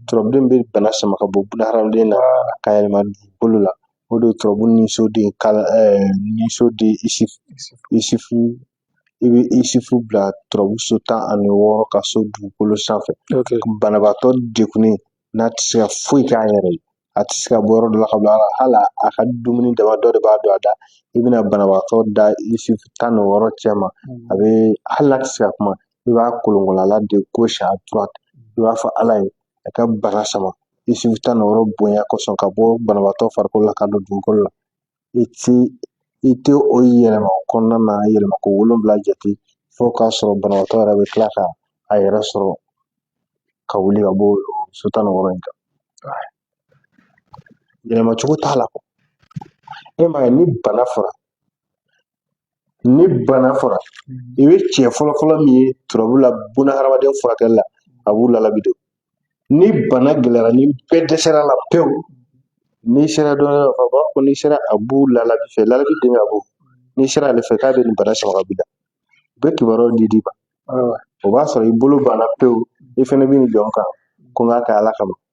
turabuden bɛ bana sama ka bɔ buna hadamaden na ka yɛlɛma dugukolo la o de ye turabu niso den kala niso den isi isifu i bɛ isifu bila turabu so tan ani wɔɔrɔ ka so dugukolo sanfɛ banabaatɔ degunnen n'a tɛ se ka foyi k'a yɛrɛ ye a tɛ se ka bɔ yɔrɔ dɔ la ka bila la hali a ka dumuni dama dɔ de b'a don a da i bɛna banabaatɔ da isifu tan ni wɔɔrɔ cɛma a bɛ hali n'a tɛ se ka kuma i b'a kolonkolon a la de gauche à droite i b'a fɔ ala ye a ka bana sama isifu tan ni wɔɔrɔ bonya kosɔn ka bɔ banabaatɔ farikolo la ka don dugukolo la i ti i tɛ o yɛlɛma o kɔnɔna na yɛlɛma ko wolonwula jate fo k'a sɔrɔ banabaatɔ yɛrɛ bɛ tila ka a yɛrɛ sɔrɔ ka wuli ka bɔ so tan ni wɔɔrɔ in kan yɛlɛma cogo t'a la e m'a ye ni bana fɔra ni bana fɔra i bɛ cɛ fɔlɔfɔlɔ min ye turabu la buna hadamaden furakɛli la abu lalabi de ni bana gɛlɛyara ni bɛɛ dɛsɛr'a la pewu n'i sera dɔ la ka b'a fɔ n'i sera abu lalabi fɛ lalabi den ka bɔ n'i sera ale fɛ k'a bɛ nin bana sama ka b'i la u bɛ kibaruyaw de d'i ma o b'a sɔrɔ i bolo banna pewu i fɛnɛ bɛ nin jɔ n kan ko n k'a kɛ ala kama